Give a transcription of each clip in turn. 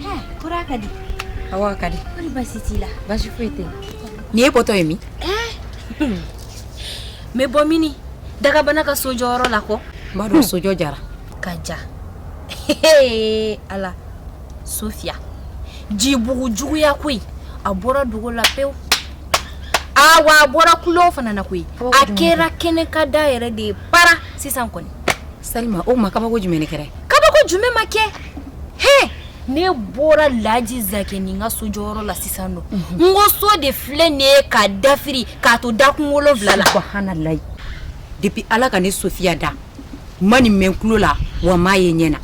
Hɛ, kura ka di. Awa ka di. Kɔri basi t'i la? Basi foyi tɛ yen. Ni e bɔtɔ ye min? Ɛɛ, n bɛ bɔ mini dagabana ka so jɔyɔrɔ la kɔ. N b'a dɔn sojɔ jara. Ka ja. Ee Ala, Sofiya, jibugu juguya koyi, a bɔra dogo la pewu. Aa wa a bɔra kulo fana na koyi. A kɛra kɛnɛ kan da yɛrɛ de ye para sisan kɔni. Salima, o kuma kabako jumɛn de kɛra? Kabako jumɛn ma kɛ? hɛ ne bɔra laji zankɛ nin ka so jɔyɔrɔ la sisan don n ko so de filɛ nin ye ka dafiri k'a to dakun wolonfila la subahanalayi depuis ala ka ne sofiya da n ma nin mɛn n tulo la wa n m'a ye ɲɛ na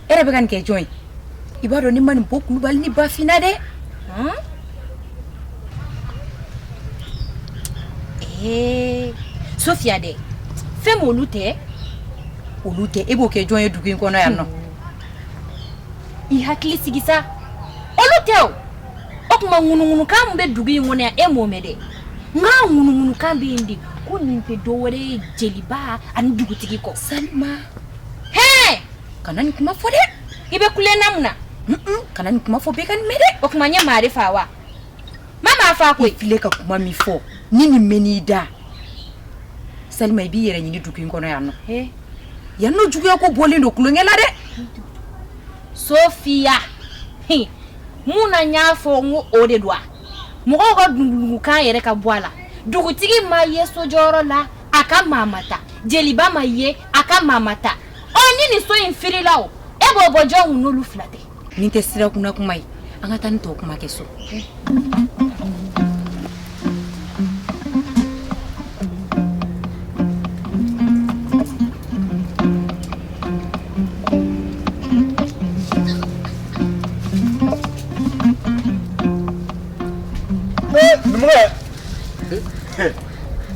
e yɛrɛ bɛ ka nin kɛ jɔn ye i b'a dɔn n'i ma nin bɔ kulubali ni bafi na dɛ ee sofiya dɛ fewu olu tɛ olu tɛ e b'o kɛ jɔn ye dugu in kɔnɔ yan nɔ i hakili sigi sa olu tɛ o o kuma ŋunuŋunukan min bɛ dugu in kɔnɔ yan e m'o mɛn dɛ nka ŋunuŋunukan bɛ yen di ko nin tɛ dɔ wɛrɛ ye jeliba ani dugutigi kɔ salima kana nin kuma fɔ dɛ i bɛ kule n na mun na kana nin kuma fɔ bɛɛ ka nin mɛn dɛ o kuma n ye maa de fa wa i ma maa fa koyi filɛ ka kuma min fɔ ni nin mɛnn'i da salima i b'i yɛrɛ ɲini dugu in kɔnɔ yan nɔ yan nɔ juguya ko bɔlen don kulonkɛ la dɛ sofiya mun na n y'a fɔ n ko o de don wa mɔgɔw ka dundunkan yɛrɛ ka bɔ a la dugutigi ma ye sojɔyɔrɔ la a ka maa ma ta jeliba ma ye a ka maa ma ta ɔ ni nin so in firila o e b'o bɔ jɔn kun n'olu fila tɛ nin tɛ sira kunna kuma ye an ka taa nin tɔw kuma kɛ so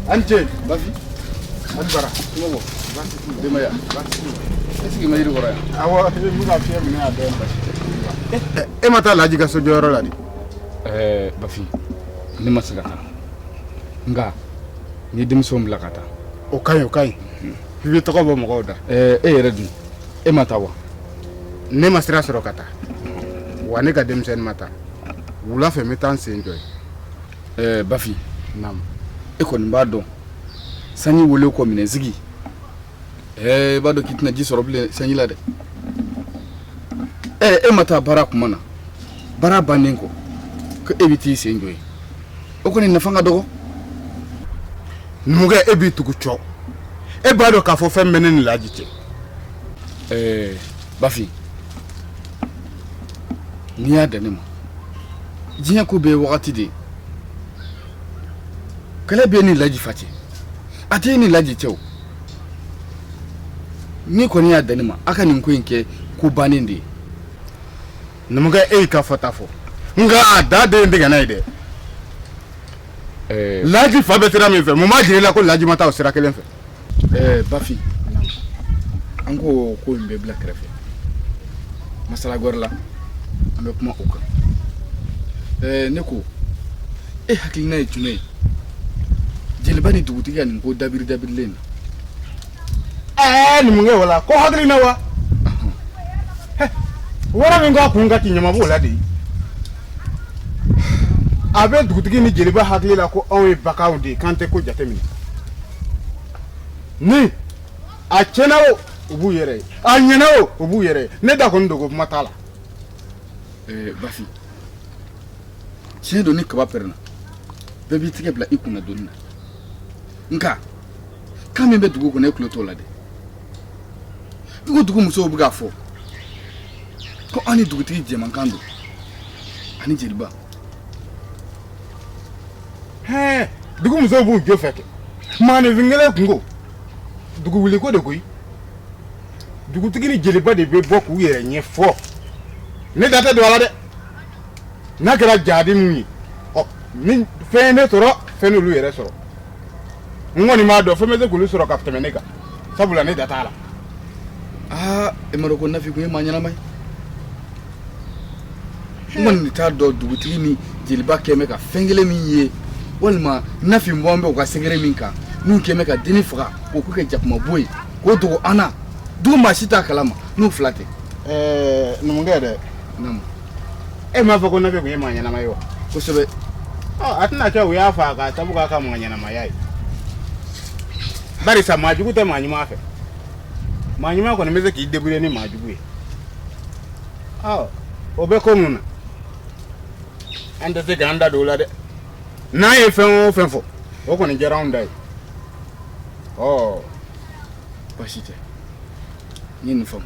An ce bafi an bara kuma ko basi kuma denbaya basi kuma e sigi ma yiri kɔrɔ yan awɔ n bɛ ka fiɲɛ minɛ yan dɛ bafi e ma taa laji ka so jɔyɔrɔ la de ɛɛ bafi ne ma se ka taa nka n ye denmisɛnw bila ka taa o ka ɲi o ka ɲi i bɛ tɔgɔ bɔ mɔgɔw da ɛɛ e yɛrɛ dun e ma taa wa ne ma sira sɔrɔ ka taa wa ne ka denmisɛn ma taa wula fɛ n bɛ taa n sen jɔ yen ɛɛ bafin naamu e kɔni b'a dɔn sanji wuli kɔ minɛnsigi ɛɛ i b'a dɔn k'i tɛna ji sɔrɔ bilen sanji la dɛ ɛɛ e ma taa baara kuma na baara bannen kɔ ko e bɛ t'i sen jɔ yen o kɔni nafa ka dɔgɔ numukɛ e b'i tugu cɔ e b'a dɔn k'a fɔ fɛn bɛ ne ni laji cɛ ɛɛ bafin n'i y'a dan ne ma diɲɛ ko bɛɛ ye wagati de ye kɛlɛ bɛ n ni laji fa cɛ a tɛ n ni laji cɛ o n'i kɔni y'a dan ne ma a ka nin ko in kɛ ko bannen de ye numukɛ e y'i ka fɔta fɔ nka a da den in tigɛ n'a ye dɛ laji fa bɛ sira min fɛ mun b'a jira i la ko laji ma taa o sira kelen fɛ eh, bafin an ko ko in bɛ bila kɛrɛfɛ masala gɔrɛ la an bɛ kuma o kan eh, ne ko e hakilina ye jumɛn ye jeliba ni dugutigi ka nin ko dabiri dabirilen na ɛɛ numukɛ wala ko hakilina wa wara min k'a kun ka ti ɲama b'o la de a bɛ dugutigi ni jeliba hakili la ko anw ye baganw de ye k'an tɛ ko jateminɛ ni a tiɲɛna o u b'u yɛrɛ ye a ɲɛna o u b'u yɛrɛ ye ne da kɔni donko kuma t'a la eh, bafin tiɲɛ don ni kaba pɛrɛnna bɛɛ b'i tigɛ bila i kunna doni na nka kan min bɛ dugu kɔnɔ e tulo t'o la dɛ i ko dugu musow bɛ k'a fɔ ko an ni dugutigi jɛmankan don ani jeliba hɛɛ dugu musow b'u jo fɛ kɛ maaninfin kelen kunko dugu wuliko de koyi dugutigi ni jeliba de bɛ bɔ k'u yɛrɛ ɲɛfɔ ne da tɛ don a la dɛ n'a kɛra jadi min ye ɔ ni fɛn ye ne sɔrɔ fɛn n'olu yɛrɛ sɔrɔ n kɔni b'a dɔn fɛn bɛ se k'olu sɔrɔ ka tɛmɛ ne kan sabula ne da t'a la aa e m'a dɔn ko nafi kun ye maa ɲɛnama ye n kɔni t'a dɔn dugutigi ni jeliba kɛn bɛ ka fɛn kelen min ye walima nafi bɔn bɛ u ka secret min kan n'u kɛn bɛ ka denni faga k'o ko kɛ jakuma bo ye k'o dogo an na dugu maa si t'a kalama n'u fila tɛ numukɛ dɛ e m'a fɔ ko nafi kun ye maa ɲɛnama ye wa kosɛbɛ a tɛna kɛ u y'a faa k'a sabu k'a ka maa ɲɛnamaya ye barisa maa jugu tɛ maa ɲuman fɛ maa ɲuman kɔni bɛ se k'i debrouiller ni maa jugu ye ɔ o bɛ ko ninnu na an tɛ se k'an da don o la dɛ n'an ye fɛn o fɛn fɔ o kɔni kɛra anw ta ye ɔ basi tɛ n ye nin faamu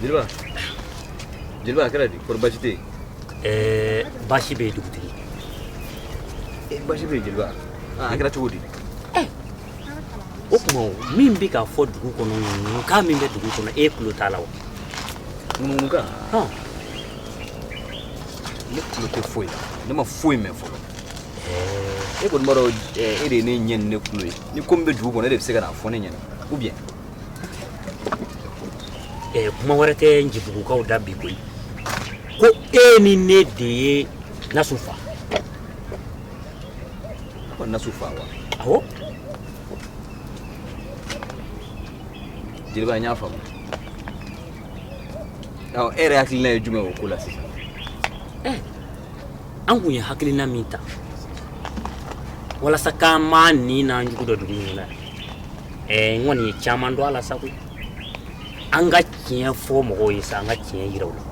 Jeliba. Jeliba a kɛra di kori baasi tɛ. Eh, baasi bɛ dugutigi. Eh, baasi bɛ jeliba. Ah, a kɛra cogo di. Eh. O kuma min bɛ ka fɔ dugu kɔnɔ kan min bɛ dugu kɔnɔ e tulo t'a la wa. Nka. Hɔn. Ne tulo tɛ foyi la. Ne ma foyi mɛn fɔlɔ. Eh. E kɔni b'a dɔn e de ye ne ɲɛ ni ne tulo ye. Ni ko min bɛ dugu kɔnɔ e de bɛ se ka n'a fɔ ne ɲɛna. Ou bien. Ɛɛ kuma wɛrɛ tɛ ncibugukaw da bi koyi ko e ni ne de ye nasu fa ko nasu fa wa awɔ jeliba n y'a faamu ɔ e yɛrɛ hakilina ye jumɛn o ko la sisan eh, an kun ye hakilina min ta walasa k'an maa ɲin n'an jugu dɔn dugu ɲɔgɔn na Ɛɛ n kɔni ye caman dɔn a la sa koyi. An ka tiɲɛ fɔ mɔgɔw ye sa, an ka tiɲɛ yira u la.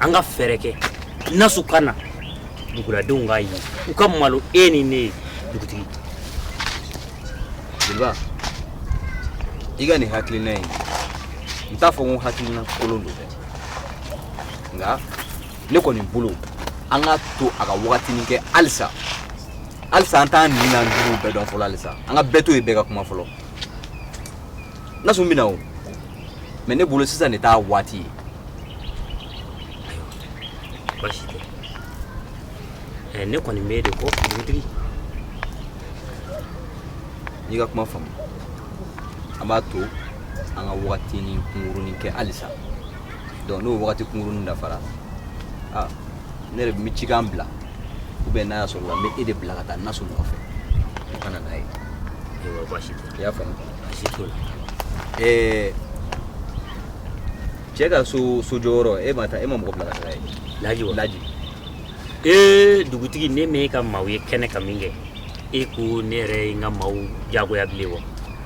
An ka fɛɛrɛ kɛ Nasu ka na, duguladenw k'a ye, u ka malo e ni ne ye, dugutigi. Jeliba, i ka nin hakilina in, n t'a fɔ ko hakilina kolon don dɛ, nka ne kɔni bolo an ka to a ka wagatinin kɛ halisa halisa an t'an ɲin n'an juguw bɛɛ dɔn fɔlɔ halisa an ka bɛɛ to yen bɛɛ ka kuma fɔlɔ nasu bɛna o mɛ ne bolo sisan de t'a waati ye basi tɛ ɛ ne kɔni b'e de kɔ dugutigi n y'i ka kuma faamu an b'a to an ka wagatinin kunkurunin kɛ halisa donc n'o wagati kunkurunnin dafara aa ne yɛrɛ bɛ cikan bila ou bien n'a y'a sɔrɔ la n bɛ e de bila ka taa nasu nɔfɛ o ka na n'a ye ayiwa baasi tɛ i y'a faamu baasi t'o la ɛɛ cɛ ka sojɔyɔrɔ e ma taa e ma mɔgɔ bila ka taa yen lajɛ wa lajɛ ee dugutigi ne m'e ka maaw ye kɛnɛ ka min kɛ e ko ne yɛrɛ ye n ka maaw jagoya bilen wa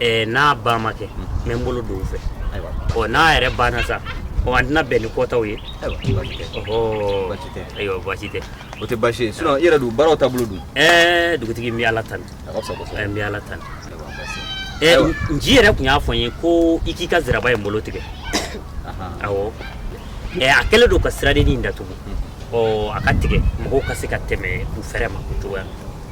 ɛɛ n'a ba ma kɛ n bɛ n bolo don u fɛ ayiwa ɔ n'a yɛrɛ banna sa ɔ an tɛna bɛn ni kɔtaw ye ayiwa baasi tɛ ɔhɔ Baasi tɛ. ayiwa baasi tɛ o tɛ baasi ye sinon i yɛrɛ dun baaraw taabolo dun ɛɛ dugutigi n bɛ ala tanu a ka fisa kosɛbɛ ɛɛ n bɛ ala tanu ayiwa baasi tɛ. ɛɛ Ayiwa. n- nci yɛrɛ tun y'a fɔ n ye ko i k'i ka ziraba in bolo tigɛ Ahan. awɔ ɛɛ a kɛlen don ka siradennin in datugu ɔ a k'a tigɛ mɔgɔw ka se ka tɛmɛ u fɛrɛ ma o cogoya la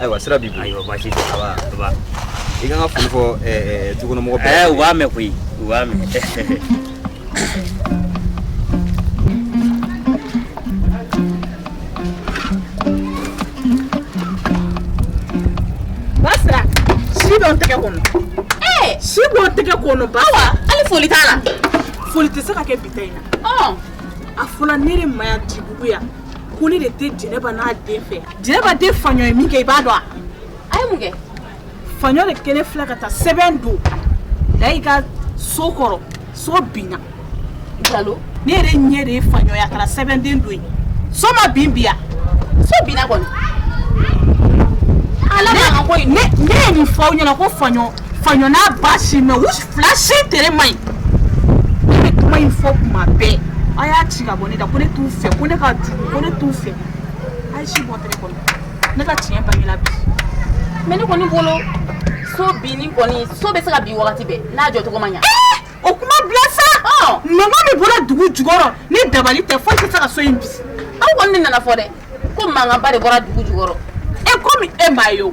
ayiwa sira b'i bolo ayiwa baasi tɛ a b'a a b'a i ka n ka foli fɔ ɛɛ ɛɛ dukɔnɔmɔgɔ bɛɛ ɛɛ u b'a mɛn koyi u b'a mɛn Basiri, si bɛ n tɛgɛ kɔnɔ. Ee! Si bɛ n tɛgɛ kɔnɔ ba. Awa, hali foli t'a la. Foli tɛ se ka kɛ bi ta in na. Ɔn! A fɔla ne de ma yan Dibugu yan. ko ne de tɛ jɛnɛba n'a den fɛ jɛnɛba den faɲɔ ye min kɛ i b'a dɔn a a ye mun kɛ faɲɔ de kɛlen filɛ ka taa sɛbɛn dɔ da i ka so kɔrɔ so binna jalo ne yɛrɛ ɲɛ de ye faɲɔ ye a taara sɛbɛnden don yen so ma bin bi ya so binna kɔni ne ye nin fɔ aw ɲɛna ko faɲɔ Faɲɔ n'a ba si mɛ u fila si tere man ɲi ne bɛ kuma in fɔ kuma bɛɛ a y'a ci ka bɔ ne da ko ne t'u fɛ ko ne ka jugu ko ne t'u fɛ a ye si bɔ tɛgɛ kɔnɔ ne ka tiɲɛ bangela bi mɛ ne kɔni bolo so binni kɔni so bɛ se ka bin wagati bɛɛ n'a jɔcogo ma ɲa o kuma bila sa mankan min bɔra dugu jukɔrɔ ni dabali tɛ foyi tɛ se ka so in bin aw kɔni ne nan'a fɔ dɛ ko mankanba de bɔra dugu jukɔrɔ e komi e m'a ye o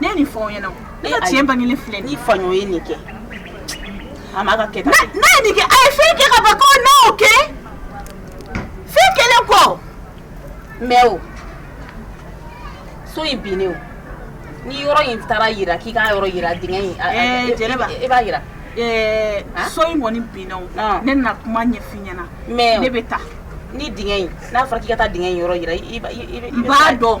ne ye nin fɔ aw ɲɛna ne ka tiɲɛ bangelen filɛ ni faɲɔ ye nin kɛ a ma ka kɛ n'a ye nin kɛ a ye fɛn kɛ ka ban ko n'a y'o kɛ fɛn kɛlen kɔ mɛ o so in binnen o ni yɔrɔ in taara yira k'i k'a yɔrɔ yira dingɛ in jeliba i b'a yira so in kɔni binna o ne na kuma ɲɛf'i ɲɛna mɛ ne bɛ taa ni dingɛ in n'a fɔra k'i ka taa dingɛ in yɔrɔ yira i b'a dɔn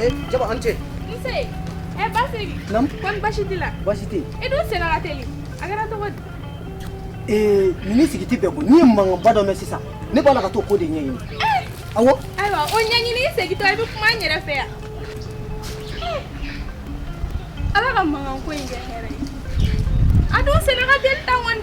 Eh, jaba an ce. Nse, eh basiri. Nam? Kɔri baasi t'i la? Baasi tɛ. E dun senna ka teli. A kɛra cogo di? Ee, nin ni sigi tɛ bɛɛ ko, n'i ye mankanba dɔ mɛn sisan, ne b'a la ka t'o ko de ɲɛɲini. Awɔ. Ayiwa, o ɲɛɲini segintɔ i bɛ kuma n yɛrɛ fɛ yan. Ala ka mankanko in kɛ hɛrɛ ye. A dun senna ka teli tan kɔni.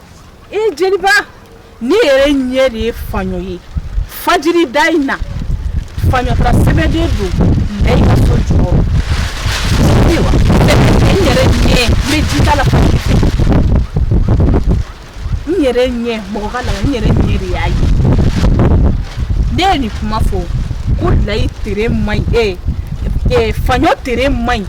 e jeliba ne yɛrɛ ɲɛ de ye faɲɔ ye fajiri da in na faɲɔ taara sɛbɛnden dɔ la i ka so jukɔrɔ wa n yɛrɛ ɲɛ n bɛ ji ta la fajiri fɛ n yɛrɛ ɲɛ mɔgɔ ka la n yɛrɛ ɲɛ de y'a ye ne ye nin kuma fɔ ko layi tere man ɲi ee faɲɔ tere man ɲi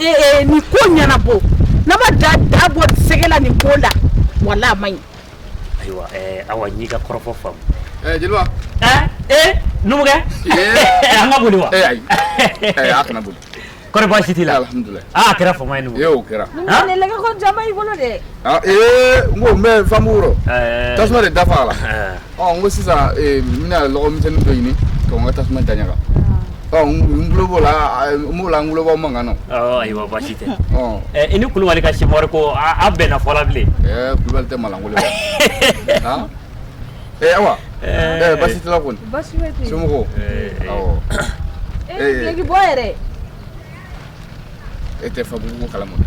ee eh, eh, nin ko ɲɛnabɔ n'an ma da bɔ sɛgɛ la nin ko la wala a ma ɲi ayiwa eh, awa n y'i ka kɔrɔfɔ faamu jeliba ee numukɛ an ka boli wa ayi a kana boli kɔri baasi t'i la alhamdulilayi aa a kɛra fama ye numu o kɛra ne lɛgɛ ko jama y'i bolo dɛ ee n ko n bɛ famu wɔrɔ tasuma de dafa a la ɔ n ko sisan n bɛna lɔgɔmisɛnnin dɔ ɲini ka n ka tasuma da ɲaga ɔ n tulo b'o la n b'o la n tulo b'aw mankan na. ɔ ayiwa baasi tɛ. ɔ ɛ i ni kulubali ka simɔri ko a a bɛnna fɔla bilen. ɛɛ kulubali tɛ malankolon ye. han ee awa ee baasi t'i la kɔni baasi bɛ ten somɔgɔw awɔ ee bileki bɔ yɛrɛ e tɛ fa gabugu kalama na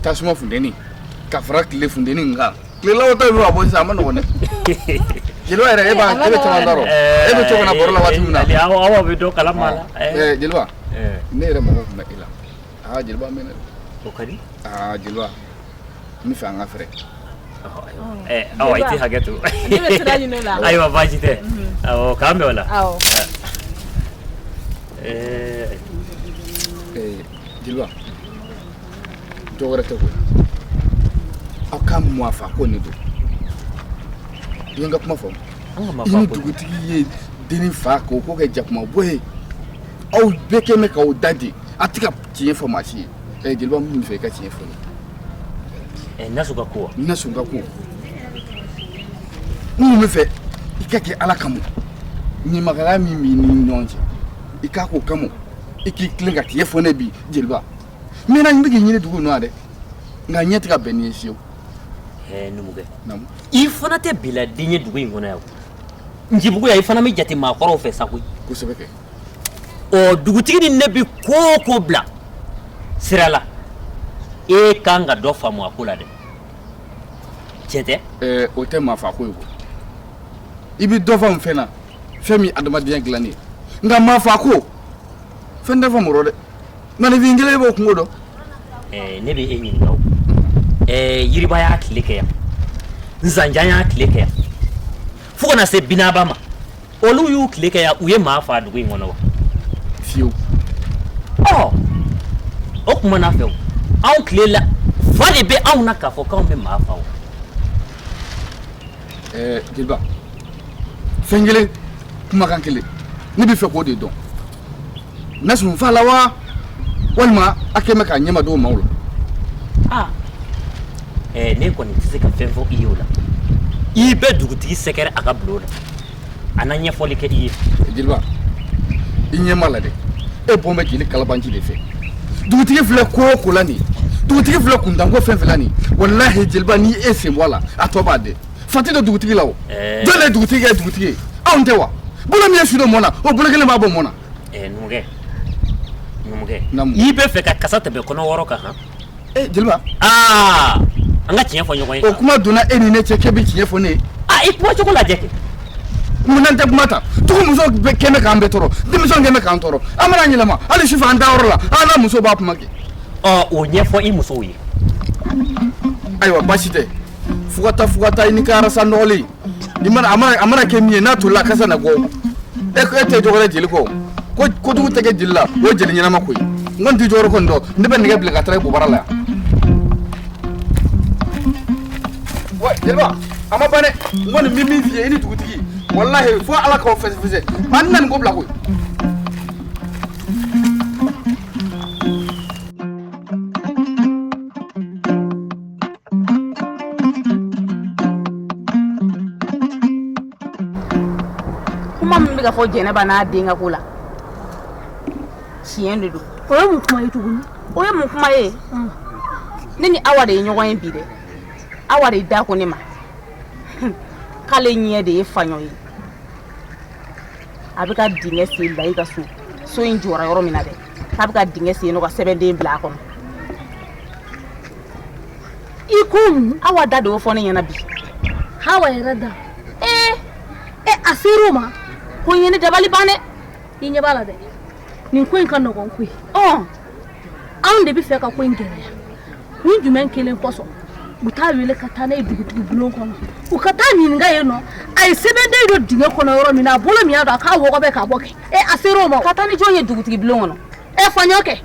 tasuma funteni ka fara tile funteni kan Tilelaw ta bɛ ka bɔ sisan a man nɔgɔn dɛ, jeliba yɛrɛ e b'a e bɛ caman dɔn, e bɛ to ka na baro la waati min na, Awa bɛ dɔ kalama a la, ɛɛ jeliba ne yɛrɛ mago tun bɛ e la, aa jeliba n bɛ na dɛ, o ka di, aa jeliba n bɛ fɛ an ka fɛɛrɛ kɛ, ɛɛ Awa i tɛ hakɛ to, ne bɛ sira ɲini o la, ayiwa baasi tɛ, awɔ k'an bɛn o la, awɔ, ɛɛ jeliba dɔ wɛrɛ tɛ koyi aw ka maa faako nin don i ye n ka kuma fɔ i ni dugutigi ye denni faa k'o ko kɛ jakuma bo ye aw bɛɛ kɛ mɛ k'aw dade a tɛ ka tiɲɛ fɔ maa si ye ɛ jeliba n bɛ fɛ i ka tiɲɛ fɔ n ye nasun ka ko wa nasun ka ko n bɛ fɛ i k'a kɛ ala kama ɲamakala min b'i ni ɲɔgɔn cɛ i k'a k'o kama i k'i tilen ka tiɲɛ fɔ n ye bi jeliba n mɛnna n bɛ k'i ɲini dugu in na dɛ nka ɲɛ tɛ ka bɛn n'i ye fiyewu. ɛɛ numukɛ i fana tɛ biladen ye dugu in kɔnɔ yan ncibugu yan i fana bɛ jate maakɔrɔw fɛ sa koyi. kosɛbɛ kɛ. ɔ dugutigi ni ne bɛ ko o ko bila sira la e kan ka dɔ faamu a ko la dɛ tiɲɛ tɛ. ɛɛ o tɛ maa faako ye koyi i bɛ dɔ faamu fɛn na fɛn min ye adamadenya dilanni ye nka maa faako fɛn tɛ faamu o rɔ dɛ. Mani b'i kelen b'o kungo dɔn ne bɛ e ɲininka ɛɛ yiriba y'a tile kɛ yan zanjan y'a tile kɛ yan fo ka na se binaba ma olu y'u tile kɛ yan u ye maa faa dugu in kɔnɔ wa fiyewu ɔ o tuma na fɛ anw tile la fa de bɛ anw na k'a fɔ k'anw bɛ maa faa ɛɛ jeliba fɛn kelen kumakan kelen ne bɛ fɛ k'o de dɔn nasun faala wa walima a kɛmɛ k'a ɲɛma dogo maaw la ah eh, ne kɔni tɛ se ka fɛn fɔ i ye o la i bɛ dugutigi sɛgɛrɛ a ka bulon na a na ɲɛfɔli kɛ i ye jeliba i ɲɛ ma la dɛ e bɔn bɛ jeli kalabanci de fɛ dugutigi filɛ ko o ko la nin dugutigi filɛ kuntanko fɛn fɛn la nin walahi jeliba ni e sen b'a la a tɔ b'a dɛ Fati don dugutigi la o jɔn de dugutigi ye dugutigi ye anw tɛ wa bolo min ye su don mɔn na o bolo kelen b'a bɔ mɔn na numukɛ i bɛ fɛ ka kasa tɛmɛ kɔnɔ wɔɔrɔ kan h ee jeliba aa an ka tiɲɛ fɔ ɲɔgɔn ye o kuma donna e ni ne cɛ k'e bɛ tiɲɛ fɔ ne ye i kuma cogo lajɛ kɛ munna an tɛ kuma ta tugu muso kelen k'an bɛɛ tɔɔrɔ denmisɛn kelen k'an tɔɔrɔ an mana yɛlɛma hali sufɛ an dayɔrɔ la an n'an muso b'a kuma kɛ o ɲɛfɔ i musow ye ayiwa baasi tɛ fo ka taa fo ka taa i n'i ka arasa nɔgɔlen a mana kɛ min ye n'a tolila a kasa na bɔ e e tɛ jɔgɔrɛ jeli kɔ ko kojugu tɛ kɛ jeli la o ye jeli ɲɛnama ko ye n kɔni tɛ jɔgɔrɛ kɔni dɔn ne bɛ nɛgɛ bila ka taa i bobara la yan wa jeliba a ma ban dɛ n kɔni bɛ min f'i ye i ni dugutigi walahi fo ala k'aw fɛsɛfɛsɛ an tɛna nin ko bila koyi Kuma min bɛ ka fɔ jɛnɛba n'a den ka ko la tiɲɛ de don o ye mun kuma ye tuguni o ye mun kuma ye ne ni awa de ye ɲɔgɔn ye bi dɛ awa de da ko ne ma k'ale ɲɛ de ye faɲɔ ye a bɛ ka dingɛ sen layi ka so so in jɔra yɔrɔ min na dɛ k'a bɛ ka dingɛ sen nɔ ka sɛbɛnden bila a kɔnɔ i ko mun awa da de y'o fɔ ne ɲɛna bi awa yɛrɛ da ee e a ser'o ma ko in ye ne dabali ban dɛ i ɲɛ b'a la dɛ nin ko in ka nɔgɔn koyi ɔ anw de bɛ fɛ ka ko in gɛlɛya kun jumɛn kelen kosɔn u t'a wele ka taa n'a ye dugutigi bulon kɔnɔ u ka taa ɲininka yen nɔ a ye sɛbɛnden don dingɛ kɔnɔ yɔrɔ min na a bolo min y'a don a k'a wɔgɔbɛ k'a bɔ kɛ e a ser'o ma ka taa ni jɔn ye dugutigi bulon kɔnɔ e faɲɔ kɛ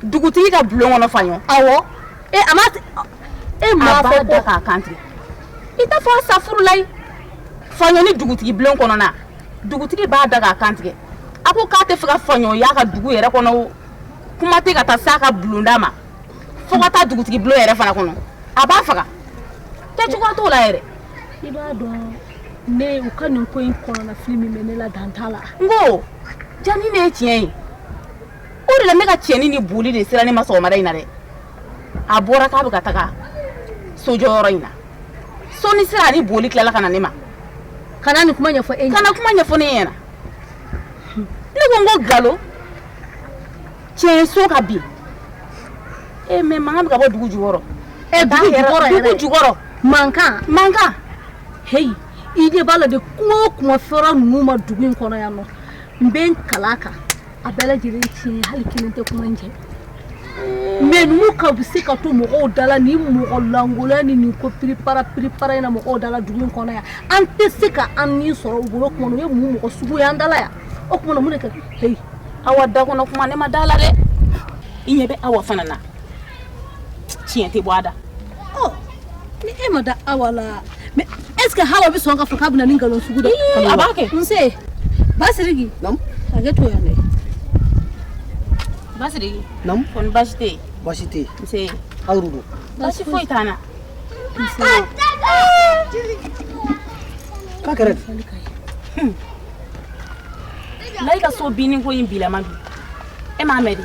dugutigi ka bulon kɔnɔ faɲɔ awɔ e a ma e m'a fɔ ko k'a kan tigɛ i t'a fɔ asafurulayi faɲɔ ni dugutigi bulon kɔnɔna dugutigi b'a da k'a kan tigɛ a ko k'a tɛ fɛ ka faɲɔ y'a ka dugu yɛrɛ kɔnɔ o kuma tɛ ka taa s'a ka bulonda ma fo ka taa dugutigi bulon yɛrɛ fana kɔnɔ a b'a faga kɛcogoya t'o la yɛrɛ i b'a dɔn ne u ka nin ko in kɔnɔnafili min bɛ ne la dan t'a la n ko jaa nin de ye tiɲɛ ye O de la ne ka cɛnin ni boli de sera ne ma sɔgɔmada in na dɛ a bɔra k'a bɛ ka taga sojɔyɔrɔ in na sɔɔni sera a ni boli tilala ka na ne ma ka na nin kuma ɲɛfɔ e ka na kuma ɲɛfɔ ne ɲɛna ne ko n ko galo tiɲɛ so ka bin e mɛ mankan bɛ ka bɔ dugu jukɔrɔ e dugu jukɔrɔ yɛrɛ dugu jukɔrɔ mankan mankan heyi i ɲɛ b'a la dɛ kuma o kuma fɔra ninnu ma dugu in kɔnɔ yan nɔ n bɛ n kala kan a bɛɛ lajɛlen tiɲɛ hali kelen tɛ kuma in jɛ mais ninnu ka bɛ se ka to mɔgɔw dala ni mɔgɔ lankolonya ni nin ko piripara piripara in na mɔgɔw dala dugu in kɔnɔ yan an tɛ se ka an ni sɔrɔ u bolo kuma na u ye mun mɔgɔ sugu ye an dala yan o kuma na mun de kɛ awa da kɔnɔ kuma ne ma da a la dɛ i ɲɛ bɛ awa fana na tiɲɛ tɛ bɔ a da ni e ma da awa la mais est ce que hawa bɛ sɔn ka fɔ k'a bɛna nin nkalon sugu da a b'a kɛ nse basiriki hakɛ to yan dɛ basiriki kɔni baasi tɛ yen baasi tɛ yen nse aw de don baasi foyi t'an na nse k'a kɛra layi ka so binni ko in bilama bi e m'a mɛn de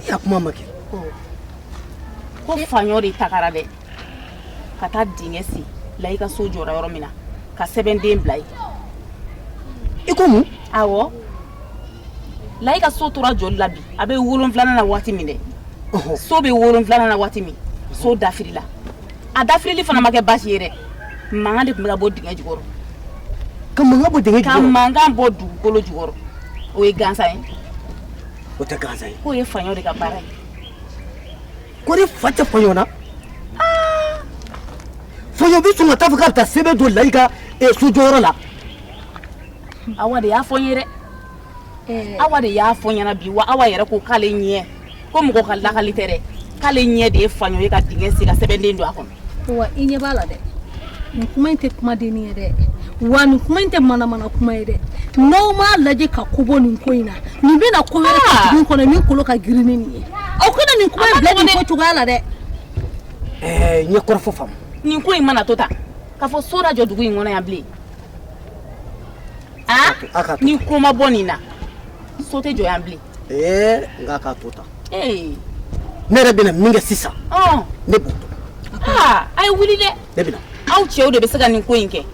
I y'a kuma mɛn kɛ ko faɲɔ de tagara dɛ ka taa dingɛ sen layi ka so jɔra yɔrɔ min na ka sɛbɛnden bila yen i ko mun awɔ layi ka so tora jɔli la bi a bɛ wolonwulanan na waati min dɛ so bɛ wolonwulanan na waati min so dafirila a dafirili fana ma kɛ baasi ye dɛ mankan de tun bɛ ka bɔ dingɛ jukɔrɔ ka mankan bɔ dugukolo jukɔrɔ o ye gansan ye o tɛ gansan ye k'o ye faɲɔ de ka baara ye ko ni fa tɛ faɲɔ na faɲɔ bɛ sɔn ka taa fɔ k'a bɛ taa sɛbɛn don layi ka eh, sojɔyɔrɔ la awa de y'a fɔ n ye dɛ eh. awa de y'a fɔ n ɲɛna bi wa awa yɛrɛ ko k'ale ɲɛ ko mɔgɔ ka lakali tɛ dɛ k'ale ɲɛ de ye faɲɔ ye ka dingɛ sen ka sɛbɛnden don a kɔnɔ wa i ɲɛ b'a la dɛ nin kuma in tɛ kumadenni ye dɛ wa nin kuma in tɛ manamana kuma ye dɛ n'aw m'a lajɛ ka ko bɔ nin ko in na nin bɛna ko wɛrɛ kɛ dugu kɔnɔ min kolo ka girin ni nin ye aw kana nin kuma in bila nin ko cogoya la dɛ eh, n ye kɔrɔfɔ faamu nin ko in mana to tan k'a fɔ so da jɔ dugu in kɔnɔ yan bilen a ah? ni ko ma bɔ nin na so tɛ jɔ yan bilen ee nka k'a to tan ne yɛrɛ bɛna min kɛ sisan ne b'o dɔn ah, a ye wuli dɛ ne bɛna aw cɛw de bɛ se ka nin ko in kɛ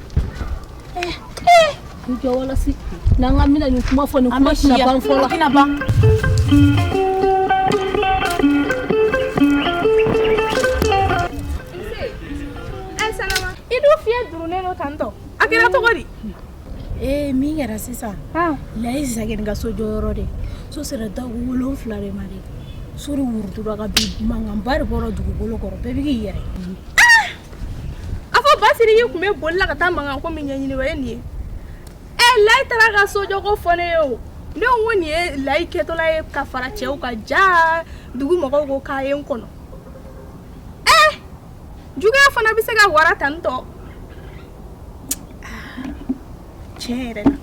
eh, eh. i jɔ walasi n'an ka mina nin kuma fɔ nin kuma tɛna ban fɔlɔ i dun fiɲɛ durunnen don tantɔ a kɛra cogo di ee min kɛra sisan layi zagin ka so jɔyɔrɔ de so sera da wolonfila de ma de so de wurutura ka bin mankanba de bɔra dugukolo kɔrɔ bɛɛ bɛ k'i yɛrɛ a fɔ basiriki tun bɛ boli la ka taa mankan ko min ɲɛɲini o ye nin ye ee layi taara ka sojɔko fɔ ne ye o ne ko nin ye layi kɛtɔla ye ka fara cɛw kan jaa dugu mɔgɔw ko k'a ye n kɔnɔ juguya fana bɛ se ka wara tan tɔ tiɲɛ yɛrɛ la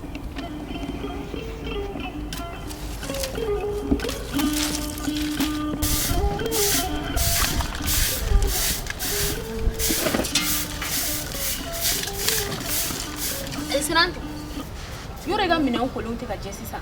yɔrɔ i ka minɛnw kolon tɛ ka jɛ sisan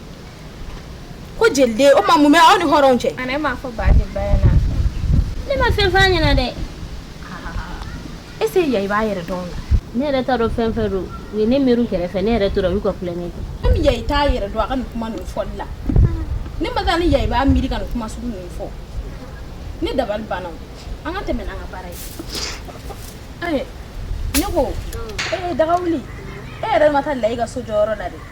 ko jeliden o ma mun bɛ aw ni hɔrɔn cɛ ne m'a fɔ ba ne ma fɛn f'a ɲɛna dɛ est-ce que ya i b'a yɛrɛ dɔn la ne yɛrɛ t'a dɔn fɛn fɛn don u ye ne miiri kɛrɛfɛ ne yɛrɛ tora u y'u ka kulonkɛ kɛ an bɛ ya i t'a yɛrɛ dɔn a ka nin kuma ninnu fɔli la ne ma taa ni ya i b'a miiri ka nin kuma sugu ninnu fɔ ne dabali banna an ka tɛmɛ n'an ka baara ye ne ko ee daga wuli e yɛrɛ ma taa layi ka so jɔyɔrɔ la dɛ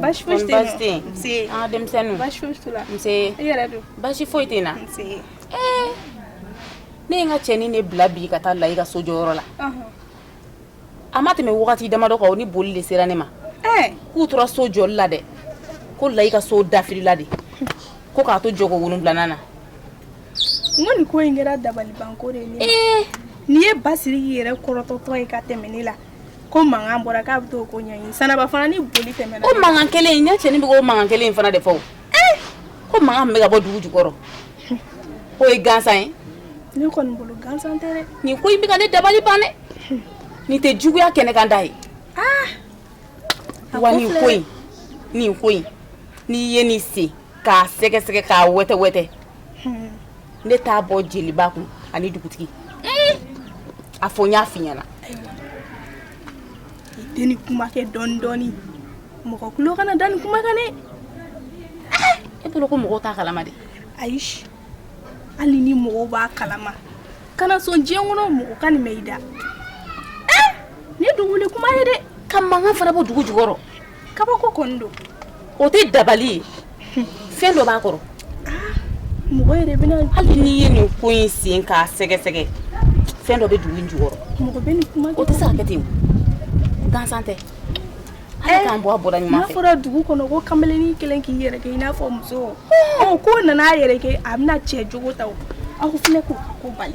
Baasi foyi baasi foyi tɛ n na ne ye n ka cɛnin de bila bi ka taa layi ka so jɔyɔrɔ la a ma tɛmɛ waati damadɔ kan o ni boli de sera ne ma k'u tora so jɔli la dɛ ko layi ka so dafirila de ko k'a to jɔko wolonwulanan na nin ko in kɛra dabalibanko de ye ne ye basiri yɛrɛ kɔrɔtɔtɔ ye ka tɛmɛ ne la ko mankan bɔra k'a bɛ t'o ko ɲɛɲini sanaba fana ni boli tɛmɛna ko mankan kelen in ne cɛnin bɛ k'o mankan kelen in fana de fɔ o ee ko mankan min bɛ ka bɔ dugu jukɔrɔ k'o ye gansan ye ne kɔni bolo gansan tɛ dɛ nin ko in bɛ ka ne dabali ban dɛ nin tɛ juguya kɛnɛkanda ye aa a wa ko nin filɛ ko in nin ko in n'i ye nin sen k'a sɛgɛsɛgɛ k'a wɛtɛwɛtɛ ne t'a bɔ jeliba kun ani dugutigi a fɔ n y'a f'i ɲɛna i tɛ nin kuma kɛ dɔɔni dɔɔni mɔgɔ tulo kana da nin kuma kan dɛ e bolo ko mɔgɔw t'a kalama de ayi hali ni mɔgɔw b'a kalama kana sɔn diɲɛ kɔnɔ mɔgɔ ka nin mɛn i da nin ye duguwuli kuma ye dɛ ka mankan fana bɔ dugu jukɔrɔ kabako kɔni don o tɛ dabali ye fɛn dɔ b'a kɔrɔ mɔgɔ yɛrɛ bɛna hali n'i ye nin ko in sen k'a sɛgɛsɛgɛ fɛn dɔ bɛ dugu in jukɔrɔ mɔgɔ bɛ nin kuma o tɛ se ka kɛ ten gansan tɛ ala k'an bɔ a bɔda ɲuman fɛ n'a fɔra dugu kɔnɔ ko kamalennin kelen k'i yɛrɛ kɛ i n'a fɔ muso ɔ k'o nana a yɛrɛ kɛ a bɛna cɛ jogo ta o aw fana ko ko bali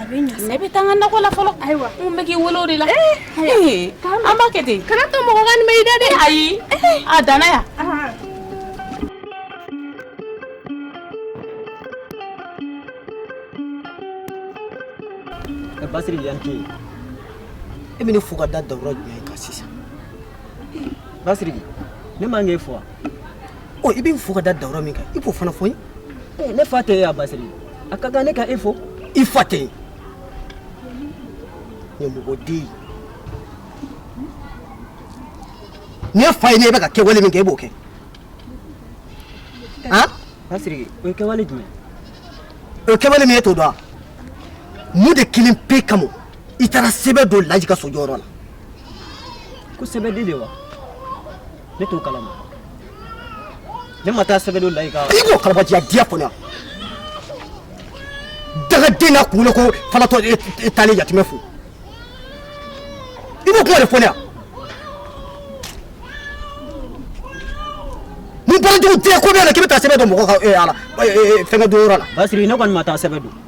A bɛ ɲa sa ne bɛ taa n ka nakɔ la fɔlɔ ayiwa n tun bɛ k'i wele o de la ee haya ee taa an b'a kɛ ten kana to mɔgɔ ka nin mɛn i da dɛ ayi ee a danna yan aa Ɛ Basiri yan tɛ yen e bɛ ne fo ka da dawura jumɛn kan sisan Basiri ne man k'e fo wa ɔ i bɛ n fo ka da dawula min kan i b'o fana fɔ n ye ne fa tɛ e ye a basiri a ka kan ne ka e fo i fa tɛ ye ɲɛmɔgɔ den ye ni ye fa ye ne bɛ ka kɛwale min kɛ e b'o kɛ han basiri o ye kɛwale jumɛn o ye kɛwale min ye e t'o dɔn wa mun de kelen pe kama i taara sɛbɛn don laji ka sojɔyɔrɔ la ko sɛbɛn don de wa ne t'o kalama ne ma taa sɛbɛn don laji ka i b'o kalabajiya diya fɔ ne yan dangaden n'a kunkolo ko falatɔ e taalen yatimɛ fo i b'o kuma de fɔ ne yan mun baarajugu tɛ ko bɛ na k'i bɛ taa sɛbɛn don mɔgɔ ka ala fɛngɛ don yɔrɔ la basiri ne kɔni ma taa sɛbɛn don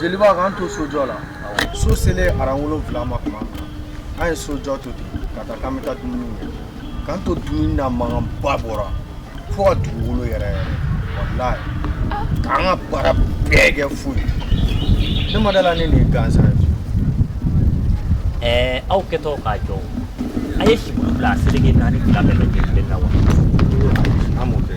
jeliba k'an to sojɔ la so selen aran wolonfila ma tuma min na an ye sojɔ to ten ka taa k'an bɛ taa dumuni kɛ k'an to dumuni na mankanba bɔra fo ka dugukolo yɛrɛyɛrɛ walayi k'an ka baara bɛɛ kɛ fu ye ne ma da a la ne nin ye gansan ye ɛɛ aw kɛtɔ k'a jɔ a ye sibulu bila a seleke naani fila bɛɛ lajɛlen na wa an b'o kɛ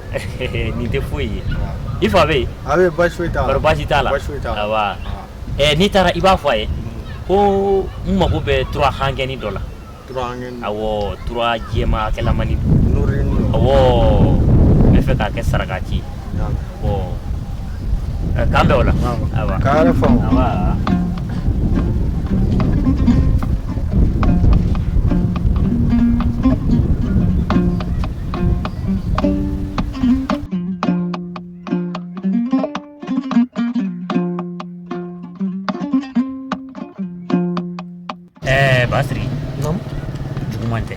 nin tɛ foyi ye i fa bɛ yen a bɛ basi foyi t'a la basi t'a la basi foyi t'a la ɛ n'i taara i b'a fɔ a ye ko n mago bɛ tura hankɛni dɔ la tura hankɛni awɔ tura jɛman kɛlamani nɔrɔyeni dɔ awɔ n bɛ fɛ k'a kɛ saraka ci ye awɔ k'an bɛn o la awɔ k'a yɛrɛ faamu awɔ Eh, Basiri. Naam. Juguman tɛ.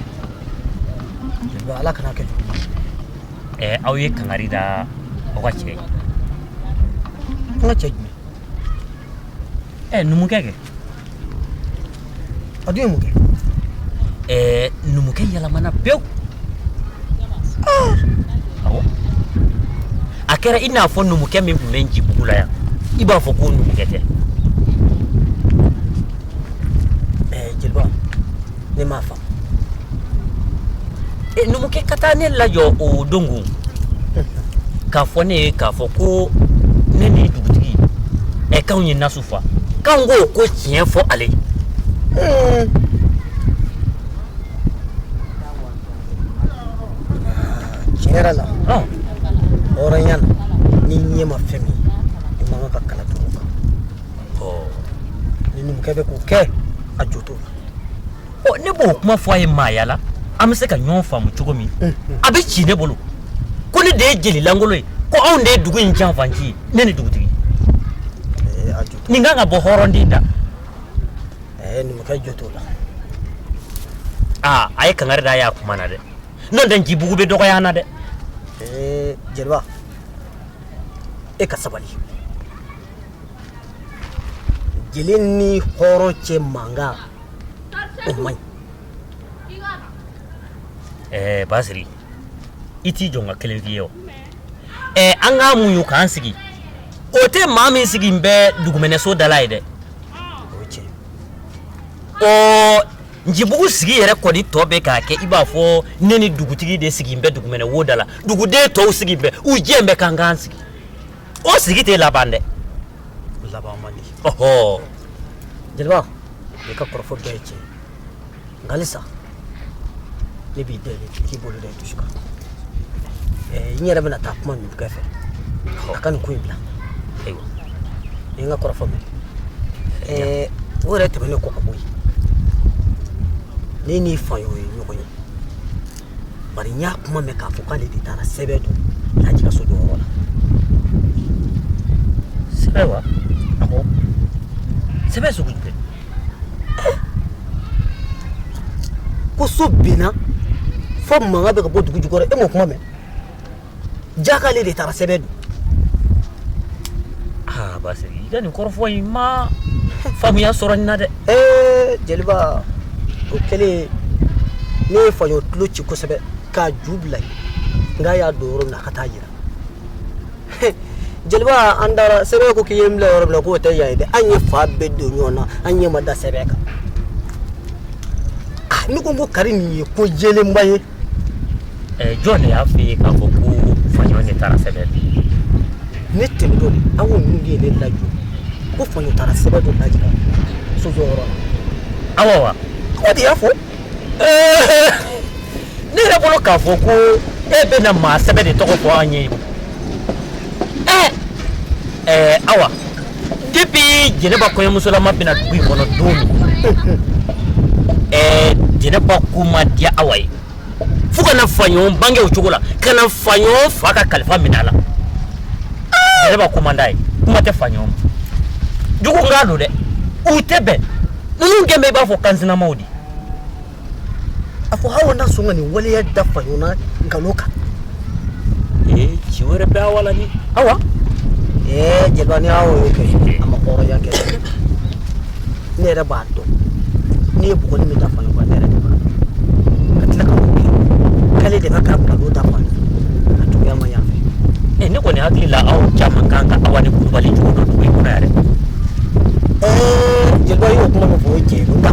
Ba Ala kan'a kɛ jugu. Eh, aw ye kangari da aw ka cɛ ye. An ka cɛ jumɛn? Eh, numukɛ kɛ. A dun ye mun kɛ? Ɛɛ numukɛ yɛlɛmana pewu. Aa! Awɔ. A kɛra i n'a fɔ numukɛ min tun bɛ Ncibugu la yan, i b'a fɔ k'o numukɛ tɛ. Ɛɛ jeliba, ne m'a faamu. E numukɛ ka taa ne lajɔ o don k'a fɔ ne ye k'a fɔ ko ne ni dugutigi ɛɛ k'an ye nasu faa k'an k'o ko tiɲɛ fɔ ale ye tiɲɛ yɛrɛ la hɔrɔnya na ni ɲɛ ma fɛn min i man kan ka kala turu kan ni numukɛ bɛ k'o kɛ a jo la ne b'o kuma fɔ a ye maaya la an bɛ se ka ɲɔgɔn faamu cogo min a bɛ ci ne bolo ko ne de ye jeli lankolo ye ko anw de ye dugu in janfanci ye ne ni dugutigi nin kan ka bɔ hɔrɔnden da numukɛ jo t'o la aa a ye kangari da a y'a kuma na dɛ n'o tɛ njibugu bɛ dɔgɔya na dɛ jeliba e ka sabali jeli ni hɔrɔn cɛ mankan o man ɲi ɛɛ basiri i t'i jɔ n ka kelen f'i ye o ɛɛ an k'a muɲu k'an sigi o tɛ maa min sigilen bɛ dugumɛnɛso da la ye dɛ o ye tiɲɛ ɔ njibugu sigi yɛrɛ kɔni tɔ bɛ k'a kɛ i b'a fɔ ne ni dugutigi de sigilen bɛ dugumɛnɛ wo da la duguden tɔw sigilen bɛ u dɛbɛn kan k'an sigi o sigi tɛ laban dɛ laban man di ɔhɔ jeliba i ka kɔrɔfɔ bɛɛ ye tiɲɛ nka halisa ne b'i deli k'i bolo da i dusu kan n yɛrɛ bɛna taa kuma numukɛ fɛ a ka nin ko in bila ayiwa i ye n ka kɔrɔfɔ mɛn o yɛrɛ tɛmɛnen kɔ ka bɔ yen ne ni faɲɔ ye ɲɔgɔn ye bari n y'a kuma mɛn k'a fɔ k'ale de taara sɛbɛn don laji ka so jɔyɔrɔ la sɛbɛn wa awɔ sɛbɛn sugu jumɛn ko so binna fo mankan bɛ ka bɔ dugu jukɔrɔ e m'o kuma mɛn jaa k'ale de taara sɛbɛn don aa basiri i ka nin kɔrɔfɔ in ma faamuya sɔrɔ nin na dɛ ee jeliba o kɛlen ne ye faɲɔ tulo ci kosɛbɛ k'a ju bila yen n k'a y'a don yɔrɔ min na a ka taa a yira jeliba an taara sɛbɛn ko k'i ye n bila yɔrɔ min na k'o tɛ yan ye dɛ an ye fan bɛɛ don ɲɔgɔn na an ɲɛ ma da sɛbɛn kan ah, ne ko n ko kari nin ye ko yelenba ye Eh, jɔn de y'a f'i ye k'a fɔ ko faɲɔ de taara sɛbɛn don ne tɛmɛtɔ de awa ninnu de ye ne lajɔ ko faɲɔ taara sɛbɛn don laji ka so jɔyɔrɔ la awa wa awa de y'a fɔ eh, ne yɛrɛ bolo k'a fɔ ko e bɛna maa sɛbɛ de tɔgɔ fɔ an ye eh, awa depuis jɛnɛba kɔɲɔmusolama bɛ na dugu in kɔnɔ don min ɛɛ jɛnɛba ko ma diya awa ye fo ka na faɲɔ bange o cogo la ka na faɲɔ fa ka kalifa minɛ a la jɛnɛba ko man d'a ye kuma tɛ faɲɔ ma jugu n k'a don dɛ u tɛ bɛn ninnu kɛlen bɛ i b'a fɔ kansinamaw de a fɔ aw na sɔn ka nin waleya da faɲɔgɔn na nkalon kan ee ci wɛrɛ bɛ awa la ni awa ee jeliba ni aw y'o kɛ a ma hɔrɔnya kɛ ne yɛrɛ b'a dɔn ne ye bugɔli min da faɲɔgɔn kan ne yɛrɛ de b'a dɔn ka tila ka mun kɛ k'ale de bɛ ka nkalon da faɲɔgɔn a juguya ma yan fɛ ee ne kɔni hakili la aw caman kan ka awa ni kulubali cogo dɔn dugu in kɔnɔ yɛrɛ ee jeliba y'o kuma min fɔ o ye tiɲɛ ye nka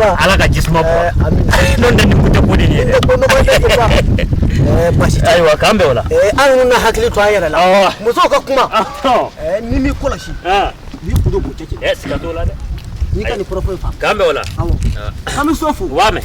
ala ka jisuma bɔ eh, n'o tɛ nin kun tɛ ko de ye dɛ eh, basi tɛ ayiwa k'an bɛn o la eh, an ninnu na hakili to an yɛrɛ la musow ka kuma n'i m'i kɔlɔsi n'i kun do b'o cɛ cɛ siga t'o la dɛ n'i ka nin kɔrɔfɔ in faamu k'an bɛn o la awɔ an bɛ so fo u b'a mɛn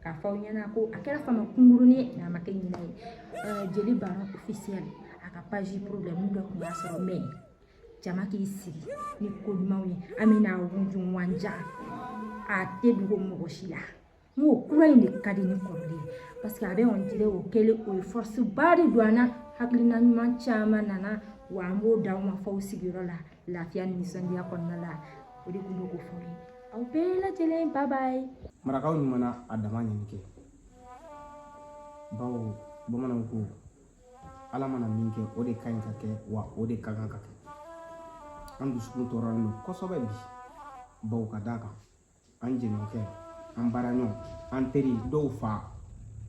k'a fɔ aw ɲɛna ko a kɛra fama kunkurunin ye n'a ma kɛ ɲinɛ ye jeli baron officiel a ka page problème dɔ tun b'a sɔrɔ mais jama k'i sigi ni ko ɲumanw ye an bɛna wujun wanja a tɛ dogo mɔgɔ si la n ko kura in de ka di ni kɔrɔlen ye parce que a bɛ on dirait o kɛlen o ye force ba de don an na hakilina ɲuman caman nana wa an b'o d'aw ma fo aw sigiyɔrɔ la Lafiya ni nisɔndiya kɔnɔna la o de tun bɛ k'o fɔ n ye aw bɛɛ lajɛlen ba b'a ye marakaw ninnu mana a dama ɲini kɛ bawo bamananw ko ala mana min kɛ o de ka ɲi ka kɛ wa o de ka kan ka kɛ an dusukun tɔɔrɔlen don kosɛbɛ bi bawo ka d'a kan an jɛɲɔgɔnkɛ an baaraɲɔgɔn an teri dɔw fa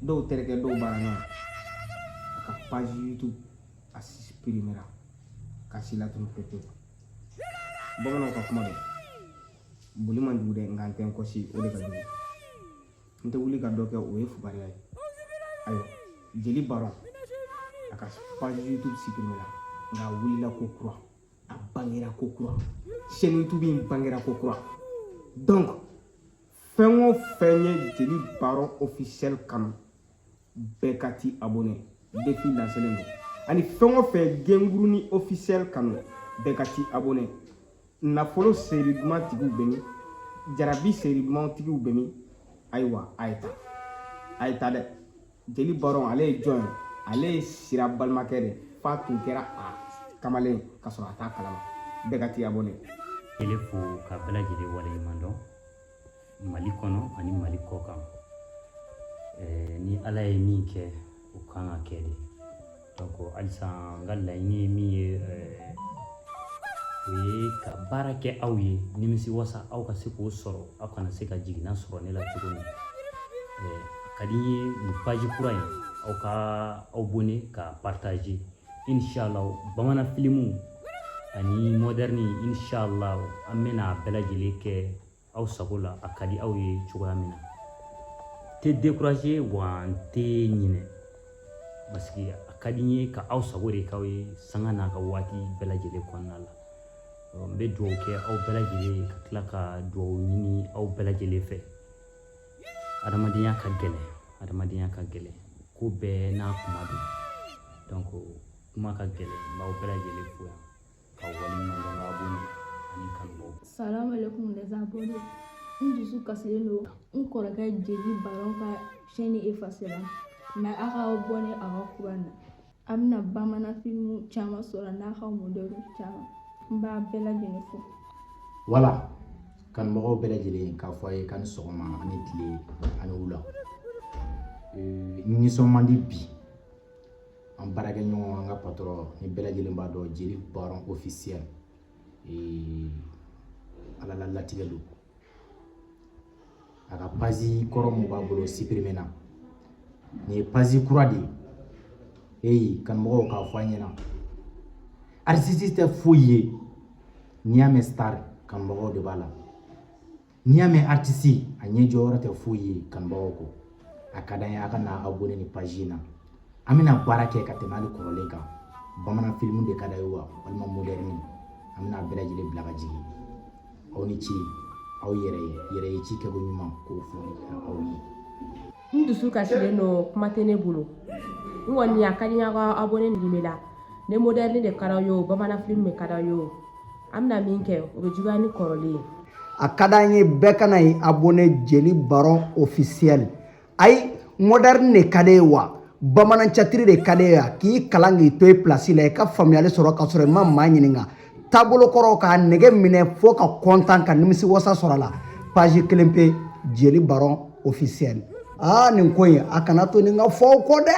dɔw terikɛ dɔw baaraɲɔgɔn a ka page youtube a suprimera ka si latunu pepewu bamananw ka kuma don boli man jugu dɛ nka n tɛ n kɔsi o de ka jugu n tɛ wuli ka dɔ kɛ o ye fugariya ye ayiwa jeli baron a ka page youtube suprimera nka a wulila ko kura a bangera ko kura chaîne youtube in bangera ko kura donc fɛn o fɛn ye jeli baron officiel kanu bɛɛ ka t'i abonné défi lancelen don ani fɛn o fɛn genguruni officiel kanu bɛɛ ka t'i abonné nafolo série duman tigiw bɛ min jarabi série duman tigiw bɛ min ayiwa a ye taa a ye taa dɛ jeli baron ale ye jɔn ye ale ye sira balimakɛ de f'a tun kɛra a kamalen ka sɔrɔ a t'a kalama bɛɛ ka t'i abonné ele fo ka bɛɛ lajɛlen waleɲuman dɔn mali kɔnɔ ani mali kɔ kan ni ala ye min kɛ o kan ka kɛ de halisa n ka laɲini ye min ye o ye ka baara kɛ aw ye nimisi wasa aw ka se k'o sɔrɔ aw kana se ka jiginna sɔrɔ ne la cogo min a ka di n ye nin page kura in aw ka aw abonné ka partager inshallah bamanan filimu ani moderne inshallah an bɛna a bɛɛ lajɛlen kɛ aw sago la a ka di aw ye cogoya min na tɛ décourager wa n tɛ ɲinɛ parce que a ka di n ye ka aw sago de k'aw ye sanga n'a ka waati bɛɛ lajɛlen kɔnɔna la n bɛ dugawu kɛ aw bɛɛ lajɛlen ye ka tila ka dugawu ɲini aw bɛɛ lajɛlen fɛ adamadenya ka gɛlɛn adamadenya ka gɛlɛn ko bɛɛ n'a kuma don donc kuma ka gɛlɛn n b'aw bɛɛ lajɛlen fo yan k'aw waleɲumandɔn abonné ani kanumɔgɔw salamu alaikum les abonnés n dusu kasilen don n kɔrɔkɛ jeli baron ka chaîne efasera mais a ka abonné a ka kura na a bɛna bamanan filimu caman sɔrɔ n'a ka moderne caman n b'aw bɛɛ lajɛlen fo voilà kanumɔgɔw bɛɛ lajɛlen k'a fɔ a ye k'a ni sɔgɔma a ni tile a ni wula Ee, n nisɔn man di bi an baarakɛɲɔgɔn an ka patɔrɔn nin bɛɛ lajɛlen b'a dɔn jeli baron ofisiyɛl ala la latigɛ don a ka pazi kɔrɔ min b'a bolo sipirimena nin ye pazi kura de ye eyi kanumɔgɔw k'a fɔ a ɲɛna aritisi tɛ foyi ye n'i y'a mɛn sitari kanumɔgɔw de b'a la n'i y'a mɛn aritisi a ɲɛ jɔyɔrɔ tɛ foyi ye kanubagaw kɔ a ka d'an ye a ka na abonné nin pazi in na an bɛna baara kɛ ka tɛmɛ hali kɔrɔlen kan bamanan filimu de ka d'a ye wa walima modɛrini an bɛna bɛɛ lajɛlen bila ka jigin aw ni ce aw yɛrɛ ye yɛrɛ ye ci kɛko ɲuman k'o fɔ aw ye n dusu kasilen don kuma tɛ ne bolo n kɔni a ka di n ye aw ka abonné nin bɛ la ni moderne de ka d'aw ye o bamanan film de ka d'aw ye o an bɛna min kɛ o bɛ juguya ni kɔrɔlen ye a ka d'an ye bɛɛ ka na ye abonné jeli baron officiel ayi moderne de ka d'e ye wa bamanan tiyatiri de ka d'e wa k'i kalan k'i to i place la i ka faamuyali sɔrɔ ka sɔrɔ i ma maa ɲininka taabolo kɔrɔ k'a nege minɛ fo ka kɔntan ka nimisi wasa sɔrɔ a la page kelen pe jeli baron officiel aa nin ko in a kana to nin ka fɔ aw kɔ dɛ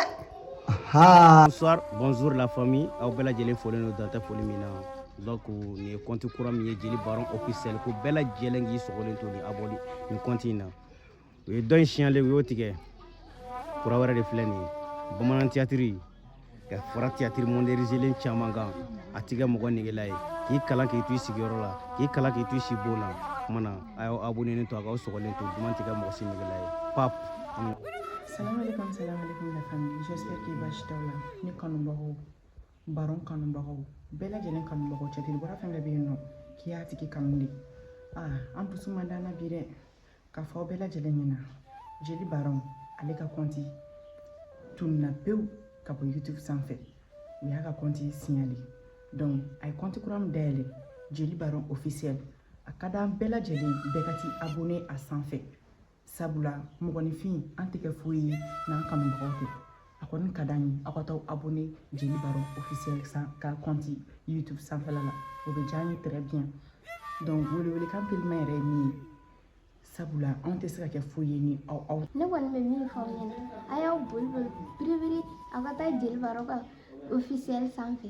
bonsoir bonjour la famille aw bɛɛ lajɛlen folen don dan tɛ foli min na donc nin ye kɔnti kura min ye jeli baron officiel ko bɛɛ lajɛlen k'i sɔgɔlen to ni abonné nin kɔnti in na u ye dɔ in signaler u y'o tigɛ kura wɛrɛ de filɛ nin ye bamanan tiyatiri ka fara tiyatiri modɛrinizelen caman kan a tɛ kɛ mɔgɔ negela ye k'i kalan k'i to i sigiyɔrɔ la k'i kalan k'i to i sibon na kuma na a y'aw abonenen to a k'aw sɔgɔlen to duman tɛ kɛ mɔgɔ si negela ye pap Salam alaikum, salam alaikum la famille. J'espère que basi t'aw la. Ne kanubagaw, baron kanubagaw, bɛɛ lajɛlen kanubagaw tiyatiri bɔra fɛn bɛɛ bɛ yen nɔ k'i y'a tigi kanu de. Ah, an dusu man d'an na bi dɛ. k'a fɔ aw bɛɛ lajɛlen ɲɛna jeli baron ale ka kɔnti tununna pewu ka bɔ youtube sanfɛ u y'a ka kɔnti siɲali donc a ye kɔnti kura min dayɛlɛ jeli baron officiel a ka d'an bɛɛ lajɛlen bɛɛ ka t'i abonné a sanfɛ sabula mɔgɔninfin an tɛ kɛ foyi ye n'an kanubagaw tɛ a kɔni ka d'an ye aw ka taa abonné jeli baro officiel ka kɔnti youtube sanfɛla la o bɛ diya an ye très bien donc welewelekan teliman yɛrɛ ye min ye sabula anw tɛ se ka kɛ foyi ye ni aw aw ne kɔni bɛ min fɔ aw ɲɛna a y'aw boli boli biribiri aw ka taa jeli baro ka officiel sanfɛ